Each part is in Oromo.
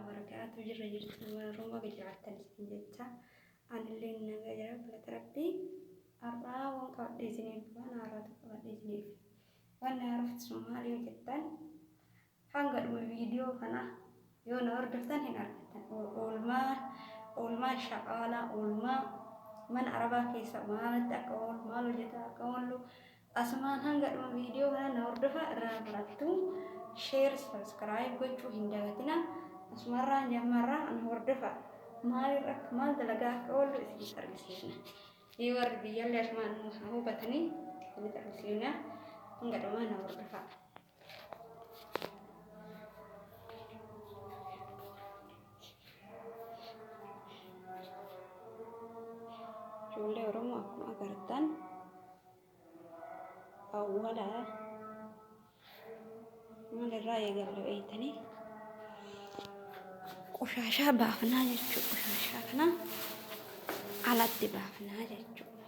barakaatu jirra jirtu ilmaan Oromoo baga jiraattan isin jecha anillee nagaa jira galata rabbii har'aa waan qabadhee isiniif waan haaraatu qabadhee isiniif waan na haarofti sun maal yoo jettan hanga dhuma viidiyoo kana yoo na hordoftan hin argattan oolmaa oolmaa shaqaalaa oolmaa mana arabaa keessa maalatti akka oolu maal hojjetaa akka oolu Asumaan hanga dhuma video kanaa na hordofaa irraa barattuu share subscribe gochuu hin dagatina asumarraan jammarraa nu hordofaa maal irra maal dalagaa akka oollu isinitti argisiifna mee warri biyyallee asumaan nu hubatanii isinitti argisiifna hanga dhumaa na hordofaa. Ijoollee Oromoo akkuma agartan awwala maalirraa eegalu eeytanii qoshaashaa baafnaa jechuudha. Qoshaashaa kana alatti baafnaa jechuudha.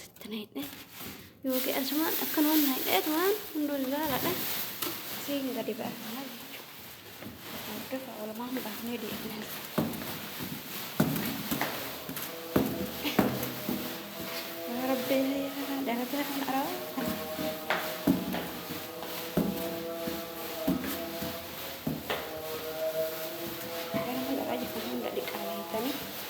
Sitti na hidhee yookiin asumaan akkan waan na hidheetu waan hunduu ilaaladha. Siin gadi baafnaa jechuudha. Hordofa walumaan baafnee deemna. Yaa Rabbi yaa darataa kan araa. Gara gara jechuun hunda dhiqaa beekanii.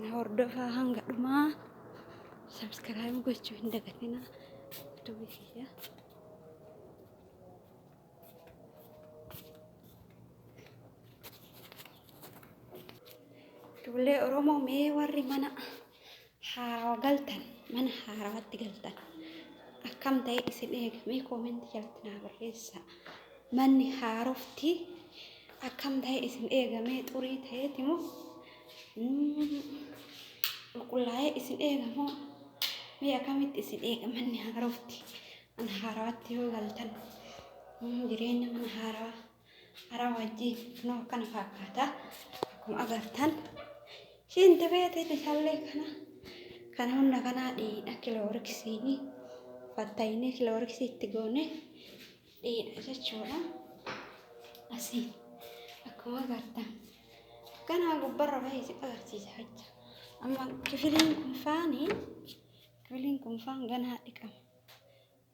Na hordofaa hanga dhumaa. Subscribe gochuu hin dagatinaa. Duubi kiyya. Ijoollee Oromoo mee warri mana haarawa galtan mana haarawatti galtan akkam ta'e isin eega mee koomentii jalatti naa barreessa manni haarofti akkam ta'e isin eega mee xurii ta'eeti moo qulqullaa'ee isin eega moo mee akkamitti isin eega manni haarofti mana haarawatti yoo galtan jireenya mana haarawaa Araa wajjii kunoo akkana fakkaata. Akkuma agartan shinti beetiin isaallee kana kana hunda kanaa dhiidha kilooriksiin fattayinee kilooriksii itti goone dhiidha jechuudha. Asii akkuma agartan kanaa gubbarra bahee si agarsiisa jecha. Amma kifiliin kun faanii kifiliin kun faan ganaa dhiqama.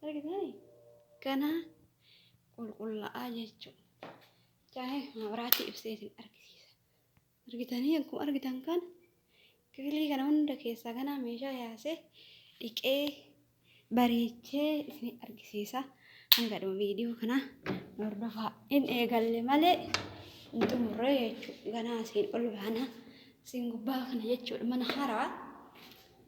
Argitanii? Ganaa qulqulla'aa jechuu. Jaa'ee mabraatii ibsee isin argisiisa. Argitanii akkuma argitan kan kifilii kana hunda keessaa ganaa meeshaa yaasee dhiqee bareechee isin argisiisa. Hanga dhuma viidiyoo kana hordofaa hin eegalle malee hin xumurre jechuudha. Ganaa isin ol baana isin gubbaa kana jechuudha mana haaraa.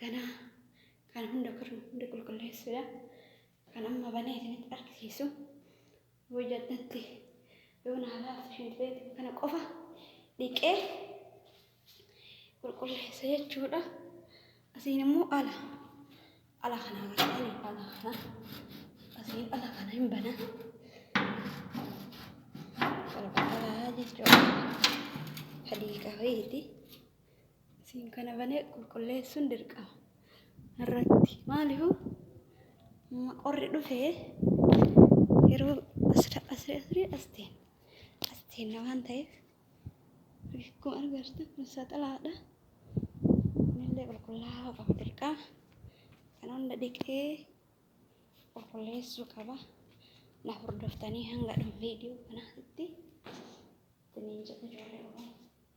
Ganaa kan hunda kirnu hunda qulqulleessuudha. Kan amma banee isinitti argisiisu hojii addatti yoo naa laaftu shintibeet kana qofa dhiqee qulqulleessa jechuudha. Asiin immoo ala ala kana agartanii ala kana asiin ala kana hin bana. Qulqullaa jechuudha. Hadiiqa wayiiti. Siin kana banee qulqulleessuun dirqama. Irratti maalifu qorri dhufee yeroo asira asira asira asteen asteen waan ta'eef akkuma argartan kun saxalaadha. Kunillee qulqullaa'aa qaba dirqama. Kan hunda dhiqee qulqulleessuu qaba. Na hordoftanii hanga dhuma viidiyoo kanaatti isiniin jedha ijoollee Oromoo.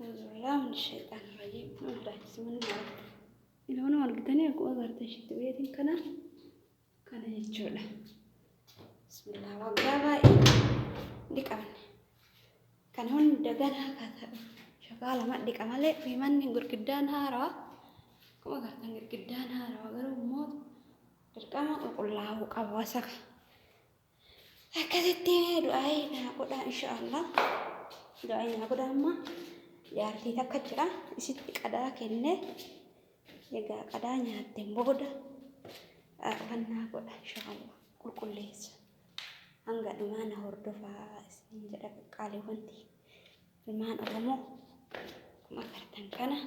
Alhamdulillah min shaytaan rajim. Alhamdulillah bismillah. Ilmoon argitanii akkuma agartan shitti beetiin kana kana jechuudha. Bismillah waggaa baay'ee dhiqamne. Kan hunda ganaa akka ta'u shakaa lama dhiqa malee fiimanni girgiddaan haarawaa akkuma agartan girgiddaan haarawaa garuu immoo dirqama qulqullaa'uu qaba wasaka. akkasitti du'aa'ii naa godhaa insha Allah du'aa'ii naa godhaa amma jaartii takka jira isitti qadaa kenne egaa qadaa nyaatteen booda arfannaa godha insha Allah qulqulleessa hanga dhumaa na hordofaa isin jedha qaaliiwwanti Ilmaan Oromoo akkuma agartan kana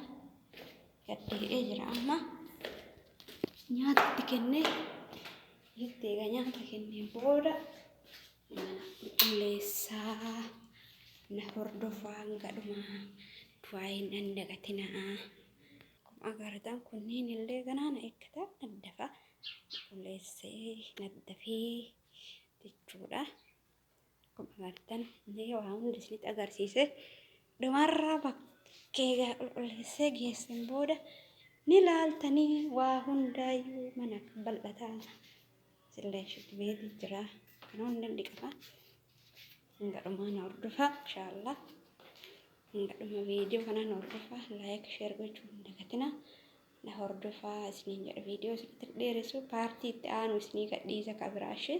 gaddee'ee jira amma nyaata itti kennee itti eega nyaata kenneen booda mana qulqulleessaa na hordofaa gadhumaa du'aayin nan dagatinaa akkuma agartan kunniin illee ganaa na eeggata naddafa qulqulleessee naddafee jechuudha. Akkuma agartan mee waa hunda isinitti agarsiise dhumarra bakkee gara qulqulleessee geessin booda ni laaltanii waa hundaayyuu mana bal'ataa sillee shitti beetii jira kan hundi hin dhiqama hanga dhumaa na hordofaa inshaallah hanga dhuma viidiyoo kanaa na hordofaa laayik sheer gochuu hin dagatinaa na hordofaa isiniin jedha viidiyoo isinitti dheeressu paartii itti aanu isinii gadhiisa kabiraashee